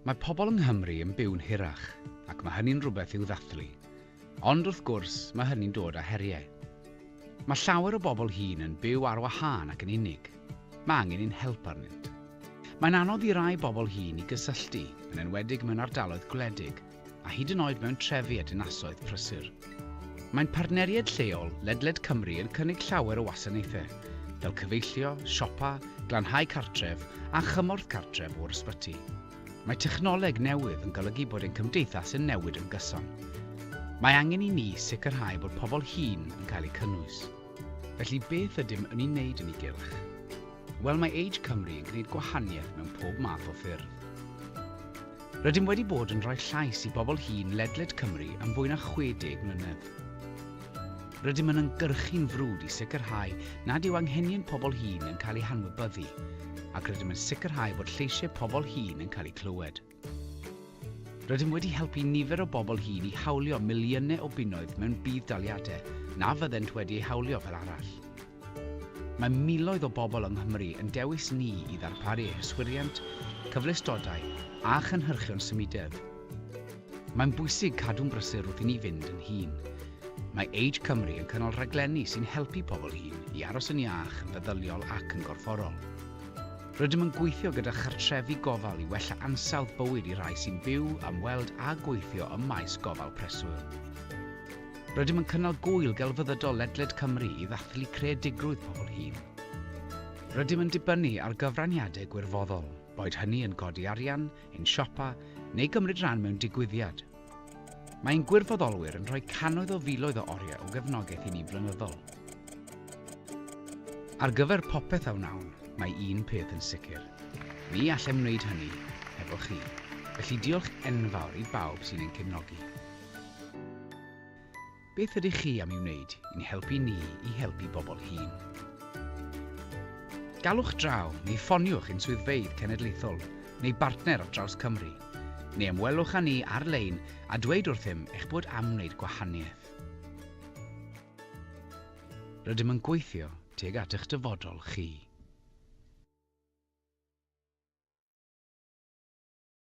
Mae pobl yng Nghymru yn byw'n hirach, ac mae hynny'n rhywbeth i'w ddathlu. Ond, wrth gwrs, mae hynny'n dod â heriau. Mae llawer o bobl hŷn yn byw ar wahân ac yn unig. Mae angen ein help arnynt. Mae'n anodd i rai bobl hŷn i gysylltu, yn enwedig mewn ardaloedd gwledig, a hyd yn oed mewn trefi a dinasoedd prysur. Mae'n partneriaid lleol ledled Cymru yn cynnig llawer o wasanaethau, fel cyfeillio, siopa, glanhau cartref a chymorth cartref o'r ysbyty. Mae technoleg newydd yn golygu bod ein cymdeithas yn newid yn gyson. Mae angen i ni sicrhau bod pobl hŷn yn cael eu cynnwys. Felly beth ydym yn ei wneud yn ei gylch? Wel, mae Age Cymru yn gwneud gwahaniaeth mewn pob math o ffyrdd. Rydym wedi bod yn rhoi llais i bobl hŷn ledled Cymru am fwy na 60 mlynedd. Rydym yn ymgyrchu'n frwd i sicrhau nad yw anghenion pobl hŷn yn cael eu hanwybyddu, ac rydym yn sicrhau bod lleisiau pobl hŷn yn cael eu clywed. Rydym wedi helpu nifer o bobl hŷn i hawlio miliynau o bunnoedd mewn budd-daliadau na fyddent wedi eu hawlio fel arall. Mae miloedd o bobl yng Nghymru yn dewis ni i ddarparu eu hyswiriant, cyfleustodau a chynhyrchion symudedd. Mae'n bwysig cadw'n brysur wrth i ni fynd yn hŷn. Mae Age Cymru yn cynnal rhaglenni sy'n helpu pobl hŷn i aros yn iach yn feddyliol ac yn gorfforol. Rydym yn gweithio gyda chartrefi gofal i wella ansawdd bywyd i rai sy'n byw, ymweld a gweithio ym maes gofal preswyl. Rydym yn cynnal gŵyl gelfyddydol ledled Cymru i ddathlu creadigrwydd pobl hŷn. Rydym yn dibynnu ar gyfraniadau gwirfoddol, boed hynny yn godi arian, ein siopa, neu gymryd rhan mewn digwyddiad. Mae ein gwirfoddolwyr yn rhoi cannoedd o filoedd o oriau o gefnogaeth i ni'n flynyddol. Ar gyfer popeth a wnawn, mae un peth yn sicr, ni allem wneud hynny hefo chi. Felly diolch enfawr i bawb sy'n ein cefnogi. Beth ydych chi am ei wneud i'n helpu ni i helpu bobl hŷn? Galwch draw neu ffoniwch ein swyddfeydd cenedlaethol neu bartner ar draws Cymru, neu ymwelwch â ni ar-lein a dweud wrthym eich bod am wneud gwahaniaeth. Rydym yn gweithio tuag at eich dyfodol chi.